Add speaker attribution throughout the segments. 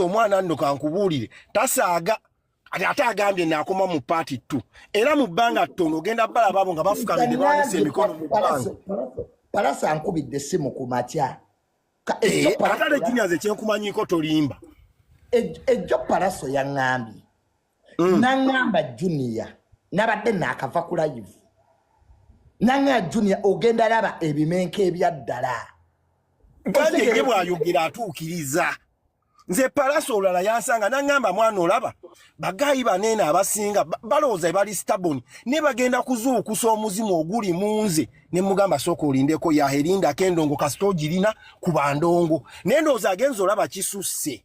Speaker 1: omwana nno kankubuulire tasaaga ati ate agambye naakoma mu paati ttu era mu bbanga ttono ogenda balaba abo nga bafukamidde bawanise emikono mu bbanga palasa
Speaker 2: nkubidde essimu ku matya eh,
Speaker 1: ate ale juniors ekyenkumanyiko tolimba
Speaker 2: ejjo palaso yaŋŋambye mm. nangamba junia nabadde nakava ku live nanga junia ogenda laba ebimenka ebyaddala
Speaker 1: gandege bwayogera atuukiriza nze palasa olulala yansanga nangamba mwana olaba bagayi baneene abasinga balowooza ebali staboni ne bagenda kuzuukusa omuzimu oguli mu nze ne mugamba sooka olindeko yaherindako endongo kasita ogirina ku bandongo naye ndowooza agenza olaba kisusse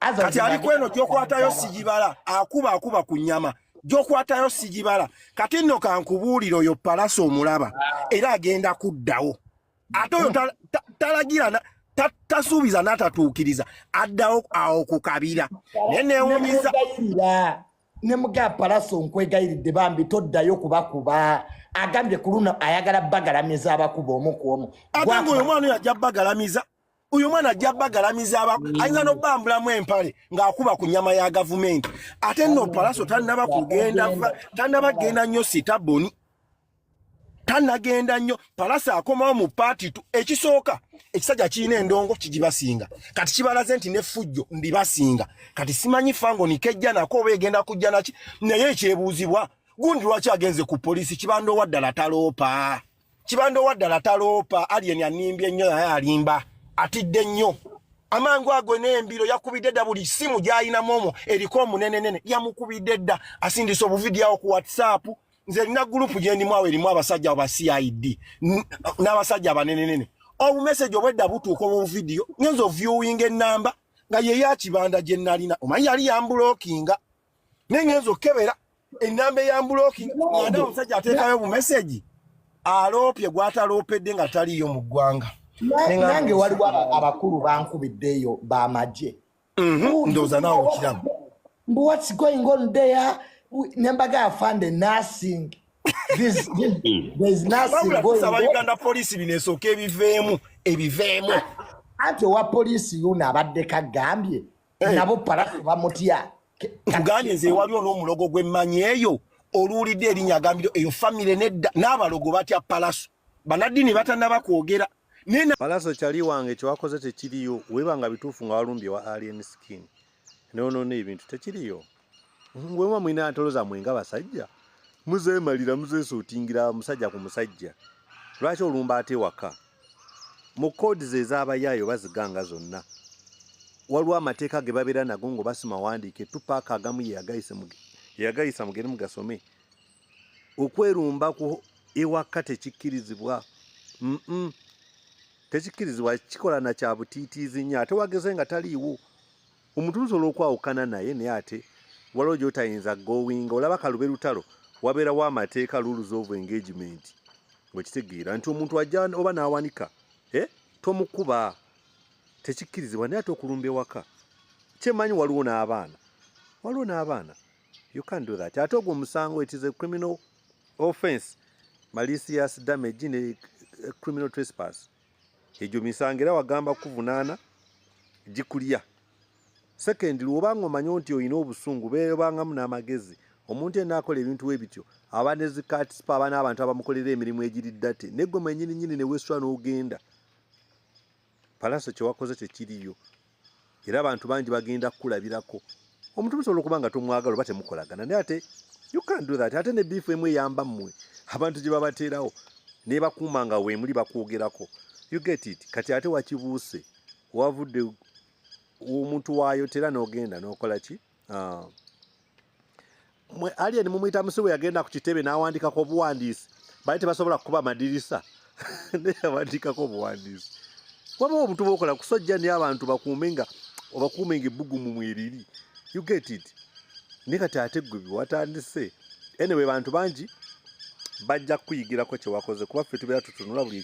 Speaker 2: kati
Speaker 1: ali kweno gyokwatayo sigibala akuba akuba ku nyama gyokwatayo sigibala kati nno kankubuulira oyo palasa omulaba era agenda kuddawo ate oyo talagira tasuubiza n'atatuukiriza addawo awo ku kabira naye newumiza
Speaker 2: ne muga palasa onkwegayiridde bambi toddayo kubakuba agambye ku luno ayagala bagalamiza abakuba omu ku omu ate ngaoyo omwana oyo ajja
Speaker 1: bagalamiza uyu mwana ajja bagalamiza aba ayinza n'obambulamu empale ng'akuba ku nyama ya gavumenti ate nno palaso tannaba kugenda tannaba kugenda nnyo sitaboni tanagenda nnyo palasa akomawo mu paati tu ekisooka ekisajja kirina endongo kigibasinga kati kibalaze nti nefujjo ndibasinga kati simanyi fango nikejja nako oba egenda kujja naki naye ekyebuuzibwa gundi lwaki agenze ku polisi kibandoowa ddala taloopa kibanda owaddala taloopa alien animbye nnyo naye alimba atidde nnyo amangu ago n'embiro yakubidde dda buli ssimu gy'alinamu omwo eriko omunenenene yamukubidde dda asindisa obuvidiyawo ku whatsapp nze erina gurupu gyendimu awo erimu abasajja aba cid n'abasajja abanenenene obumeseji obwedda butuuka obuvidiyo ngenza oviewing enamba nga yeyakibanda gye nalina omanyi yali yambulokinga naye ngenza okukebera enamba eyambuloki anda omusajja ateekayo mu meseji aloopye gwataloopedde nga taliiyo mu ggwanga nange
Speaker 2: waliwo abakulu bankubiddeeyo bamagye mhm, ndowooza
Speaker 1: naawe okiramu mbu what's
Speaker 2: going on there nembaga afande nursing kusaba uganda poliisi bino esooka
Speaker 1: ebiveemu ebiveemu anti
Speaker 2: owa poliisi yuno abaddeko agambye eh. nabo parafu bamutya tugambye nze
Speaker 1: waliwo n'omulogo gwemmanyi eyo oluwulidde erinya agambire eyo famire nedda n'abalogo batya palaso banaddini batanaba kwogera palaso
Speaker 3: kyali wange kyewakoze tekiriyo webanga bituufu nga walumbye wa alien skin nonoona ebintu tekiriyo Ngwema mwina ntoloza mwenga basajja. Muze malira muze sotingira musajja ku musajja. Lwaki olumba ate waka? Mu code ze zaba yayo baziganga zonna. Walwa amateka ge babera nago ngo basima wandike tupaka agamu ye agayise muge. Ya gayisa mugere mugasome. Okwerumba ku ewa kate kikirizibwa. Mm. -mm. tekikirizibwa kikola na kyabutitiizi nnyo ate wageze nga taliiwo omuntu lusobola okwawukana naye naye ate waliwo gyotayinza gowinga olaba kalube lutalo wabeerawo amateeka rules of engagement ngekitegeera nti omuntu ajja oba n'awanika eh, tomukuba tekikkirizibwa naye ate okulumba ewaka kyemanyi waliwo n'abaana waliwo n'abaana you can do that ate ogwo omusango it is a criminal offense malicious damage ne eh, criminal trespass egyo misango era wagamba kukuvunaana gikulya sekendi lwobanga omanya nti olina obusungu beebangamu n'amagezi omuntu ena akola ebintu we bityo aba nezikatisipa aba n'abantu abamukolera emirimu egiri ddate naye gwe mwenyini nyini ne wesula n'ogenda palasa kyewakoze tekiriyo era abantu bangi bagenda kukulabirako omuntu musobola okuba nga tomwagala oba temukolagana naye ate you can do that ate ne biifu emu eyamba mmwe abantu gye babateerawo nebakuuma nga weemuli bakwogerako you get it kati ate wakibuuse wavudde omuntu waayo tera n'ogenda n'okola ki no Ah. mwe alien mumuyita musibu yagenda ku kitebe n'awandikako obuwandiisi bali tebasobola kukuba amadirisa naye yawandikako obuwandiisi waba omuntu bokola kusojja naye abantu bakuume nga obakuume nga ebbugumu mweriri you get it naye kati ate gwe biwatandise anyway bantu bangi bajja kukuyigirako kyewakoze kuba ffe tubeera tutunula buli